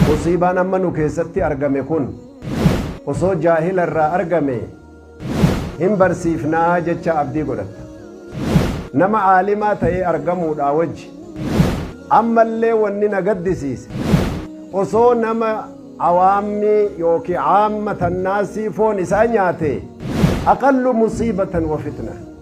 Musiibaan amma nu keessatti argame kun osoo jaahila irraa argame hin barsiifnaa jecha abdii godhatta. Nama aalimaa ta'ee argamuudhaa wajji ammallee wanni na gaddisiise osoo nama awaammii yookiin aamma tannaasii foon isaa nyaate aqallu musiibatan wa fitna.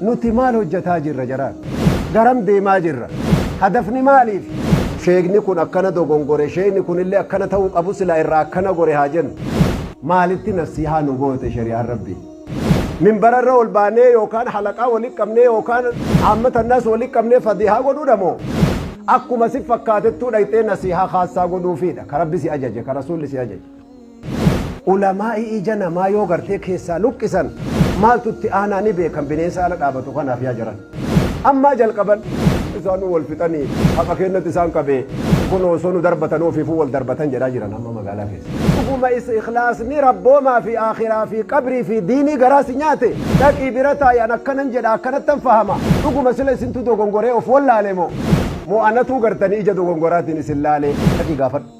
Nuti maal hojjataa jirra jaraan? Garam deemaa jirra? Hadafni maaliif? Sheekni kun akkana dogongore, sheekni kunillee akkana ta'uu qabu silaa irraa akkana gore haa jennu. Maalitti nasiihaa nu goote shari'aan Rabbii? Minbara irra ol baanee yookaan halaqaa walitti qabnee yookaan aammata annaas walitti qabnee fadiihaa godhuudha moo? Akkuma si fakkaatettuu dhayxee nasiihaa khaassaa godhuufiidha ka Rabbi si ajaje, ka Rasuulli si ajaje. Ulamaa'i ija namaa yoo gartee keessaa luqqisan maaltu itti aanaa ni beekan bineensa ala dhaabatu kanaaf yaa jaran. Ammaa jalqaban isaanuu wal fixanii haqa keennatti isaan qabee kunoo osoo nu darbatanuu ofiifuu wal darbatan jedhaa jiran amma magaalaa keessa. Dhuguma is ikhlaasni Rabboomaa fi Aakhiraa fi Qabrii fi Diinii garaa si nyaate? Dhaqii bira taa'i an akkanan jedha akkanattan fahama. Dhuguma sila isintu dogongoree of wallaale moo? Moo anatuu gartanii ija dogongoraatiin isin laalee? Dhaqii gaafadhu.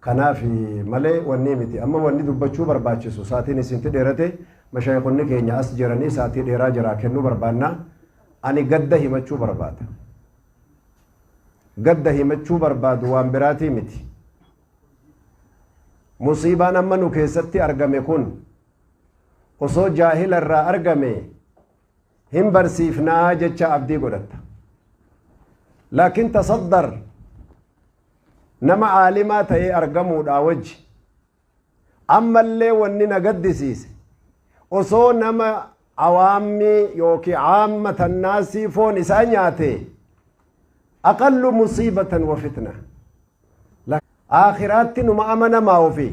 Kanaafi malee wannii miti. Amma wanni dubbachuu barbaachisu saatiin isinti dheerate mashaayikhonni keenya as jiranii saatii dheeraa jaraa kennuu barbaanna. Ani gadda himachuu barbaada. Gadda himachuu barbaadu waan biraatii miti. Musiibaan amma nu keessatti argame kun osoo jaahila irraa argame hin barsiifna jecha abdii godhatta laakiin tasaddar nama aalimaa ta'ee argamuudhaa wajji ammallee wanni na gaddisiise osoo nama awaammii yookiin aamma tannaasii foon isaa nyaate aqallu musiibatan wa fitna aakiraatti numa amanamaa ofii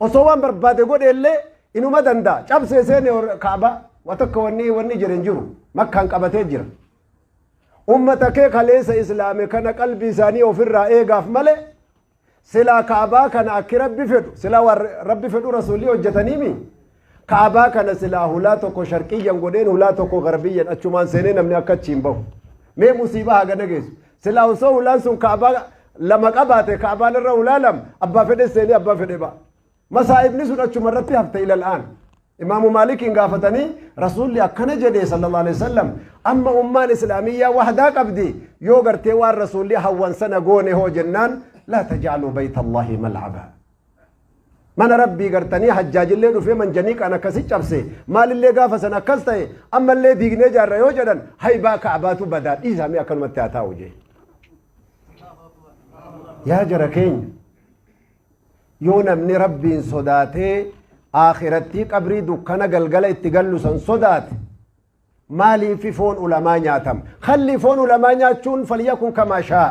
Osoo waan barbaade godhe illee inuma danda'a. Cabsee seene Kaaba wa takka wanni wanni jedhe hin jiru. Makkaan qabatee jira. Ummata kee kaleessa islaame kana qalbii isaanii ofirraa eegaaf malee silaa Kaabaa kana akki rabbi fedhu silaa waan rabbi fedhu rasuulli hojjetaniimi Ka'abaa kana silaa hulaa tokko sharqiyyan godheen hulaa tokko garbiyyan achumaan seenee namni akka achi hin bahu. Mee musiibaa hagana geessu. Silaa osoo hulaan sun ka'abaa lama qabaate ka'abaan irra hulaa lama abbaa fedhe seenee abbaa fedhe ba'a. Masaa'ibni sun achuma irratti hafte ilal'aan. Imaamu Maalikiin gaafatanii rasuulli akkana jedhee sallallahu alaihi wasallam amma ummaan islaamiyyaa wahdaa qabdi yoo gartee waan rasuulli hawwan sana goone hoo jennaan laa tajaaluu baytallaahi mal'abaa. mana rabbii gartanii hajjaajillee dhufee manjaniiqaan akkasi cabse maalillee gaafa san akkas ta'e ammallee diignee jaarra yoo jedhan haybaa ka'abaatu badaa dhiisaamee akkanumatti haa taa'u jee yaa jara keenya yoo namni rabbiin sodaatee aakhirattii qabrii dukkana galgala itti gallu san sodaate maaliifi foon ulamaa nyaatama kalli foon ulamaa nyaachuun falyakun kamaa shaa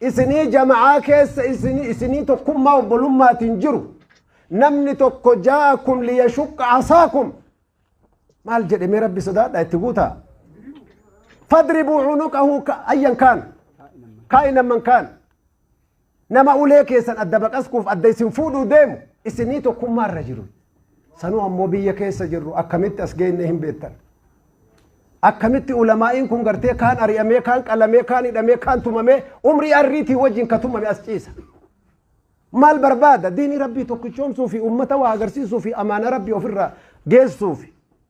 Isinii jama'aa keessa isinii isinii tokkummaa obbolummaatiin jiru namni tokko jaa'akum liyashuqqa asaakum maal jedhe mee rabbi sodaadha itti guutaa fadribuu cunuqahu ayyan kaan kaa'inan man kaan nama ulee keessan adda baqaskuuf adda isin fuudhuu deemu isinii tokkummaa irra jiru Sanuu ammoo biyya keessa jirru akkamitti as geennee hin beektan. Akkamitti ulamaa'iin kun gartee kaan ari'amee, kaan qalamee, kaan hidhamee, kaan tumamee umrii arriitii wajjin ka tumame as ciisa. Maal barbaada? Diinii Rabbii tokkichoomsuu fi uummata waa agarsiisuu fi amaana Rabbii ofirraa geessuu fi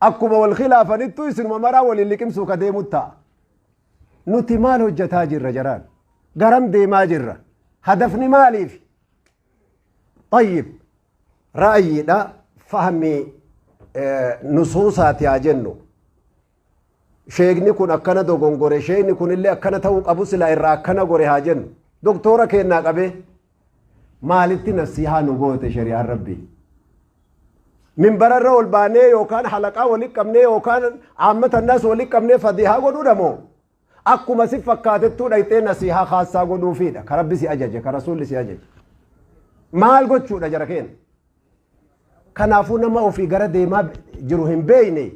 Akkuma wal khilaafanittuu isinuma maraa waliin liqimsuu ka deemut ta'a. Nuti maal hojjataa jirra jaraan? Garam deemaa jirra? Hadafni maaliif? Tayyib, ra'ayiidha fahmii nusuusaati haa jennu. Sheekni kun akkana dogongore, sheekni kunillee akkana ta'uu qabu silaa irraa akkana gore haa jennu. Doktoora keennaa qabee Maalitti nasiihaa nu goote shari'aan rabbii? Minbararra ol baanee yookaan halaqaa walitti qabnee yookaan aammata annaas walitti qabnee fadiihaa godhuudha moo? Akkuma si fakkaatettuu dhayxee nasiihaa kaassaa godhuufiidha. Ka rabbi si ajaje, ka rasuulli si ajaje. Maal gochuudha jara keenya? Kanaafuu nama ofii gara deemaa jiru hin beeyne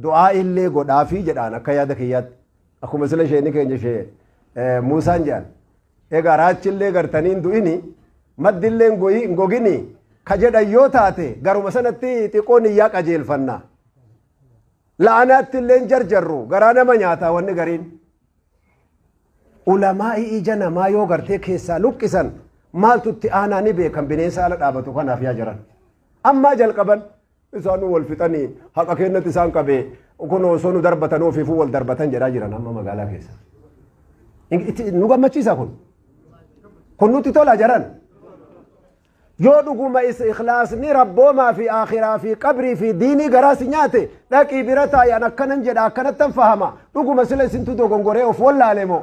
Du'aa'ii illee godhaafii jedhaan akka yaada kiyyaatti. Akkuma sila sheeni keenya shee Muusaan jedhan. Egaa raachi illee gartanii hin du'ini maddi illee hin gogini ka jedhan yoo taate garuma sanatti xiqqoo niyyaa qajeelfanna. La'anaatti illee hin jarjarru garaa nama nyaata wanni gariin. Ulamaa'ii ija namaa yoo gartee keessaa luqqisan maaltu itti aanaa ni beekan bineensa ala dhaabatu kanaaf yaa jiran. Ammaa jalqaban Isaanuu wal fixanii haqa keennatti isaan qabee kunoo osoo nu darbatan ofiifuu wal darbatan jedhaa jiran amma magaalaa keessa. Hin- itti- Nu gammachiisa kun. Kun nutti tola jaran. Yoo dhuguma is ikhlaasni rabboomaa fi akhiraa fi qabrii fi diinii garaa si nyaate dhaqii bira taa'an akkanan jedha akkanattan fahama dhuguma sila isintu dogongoree of wallaale moo.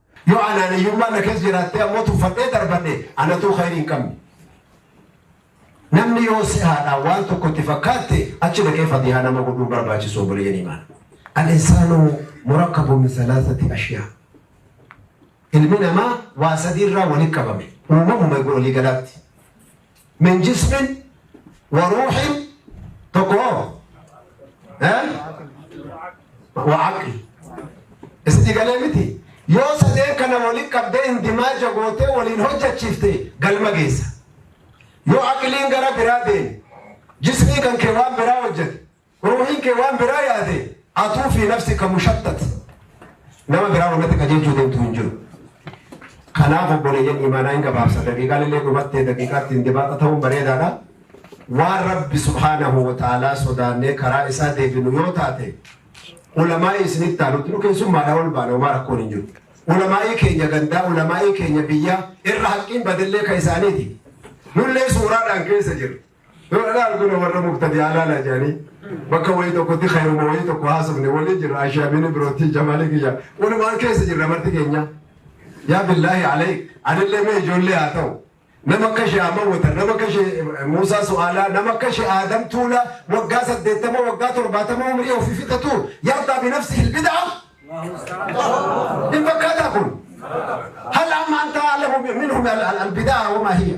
Yoo anaaniyyummaan na keessa jiraattee ammoo tuffadhee darbadhe anatuu khayrii hin qabne. Namni yoo si'aadhaan waan tokko itti fakkaatte achi dhaqee fadihaa nama godhuu hin barbaachisu obboleeyyan imaan. Al-insaanu murakkabun min salaasati ashyaa. Ilmi namaa waa sadii irraa walitti qabame. Uumamuma egaa walii galaatti. min jismin wa ruuxin tokko hoo wa aqli isinii galee miti yoo sadeen kana waliin qabdee indimaaja gootee waliin hojjechiifte galma geessa yoo aqliin gara biraa deeme jismii kan kee waan biraa hojjete Ruuhin kee waan biraa yaade atuu fi nafsi ka mushattat nama biraa wanatti qajeelchuu deemtu hin jiru. Kanaaf obboleeyyan imaanaa hin gabaabsa daqiiqaan illee dhumattee daqiiqaatti hin dibaaxa ta'uun bareedaadha. Waan Rabbi subhaanahu wa ta'aalaa sodaannee karaa isaa deebinu yoo taate ulamaa'ii isinitti taanutti nu keessummaadha ol baana homaa rakkoon hin jiru. Ulamaa'ii keenya gandaa ulamaa'ii keenya biyyaa irra haqqiin badillee ka isaaniiti. Nullee suuraadhaan keessa jirra. Yoo ana arguna warra mubtadi'aa laala jedhanii bakka wayii tokkotti khayruma wayii tokko haasofne waliin jirra ashaamini birootti jamaalii kiyya walumaan keessa jirra marti keenya yaa billaahi alayk anillee mee ijoollee haa ta'u nama akka ishee amawwata nama akka ishee muusaa su'aalaa nama akka ishee aadam tuula waggaa saddeettama waggaa torbaatama umrii ofii fixatu yaaddaa binafsi hilbidaa hin fakkaataa kun hal amma anta alamu minhum albidaa wamaa hiya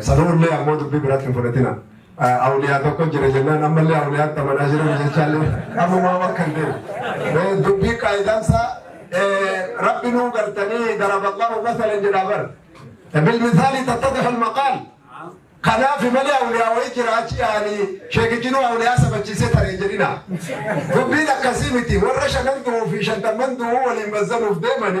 Sanuullee ammoo dubbii biratti hin fudhatina. Awliyaa tokko jira jennaan ammallee awliyaatti amanaa jiran jechaallee ammumaa bakka hin deemu. Dubbii qaayidaan isaa rabbi nuu gartanii daraba Allahu masalan jedha bar. Bilmisaali tattadixu almaqaal. Kanaaf malee awliyaa wayii jira achi yaa'anii sheekichi nuu awliyaa sabachiisee taree jedhina. Dubbiin akkasii miti warra shanan du'uu fi shantamman du'uu waliin mazzanuuf deemani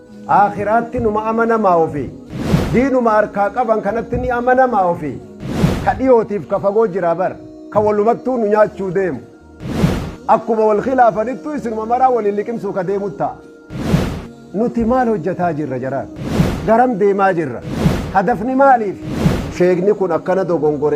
Aakhiraatti numa amanamaa ofi. Diinuma harkaa qaban kanatti ni amanamaa ofi. Ka dhiyootiif ka fagoo jira bar. Ka walumattuu nu nyaachuu deemu. Akkuma wal khilaafanittuu isinuma maraa waliin liqimsuu ka deemu ta'a. Nuti maal hojjataa jirra jaraan? Garam deemaa jirra? Hadafni maaliif? Sheekni kun akkana dogongore.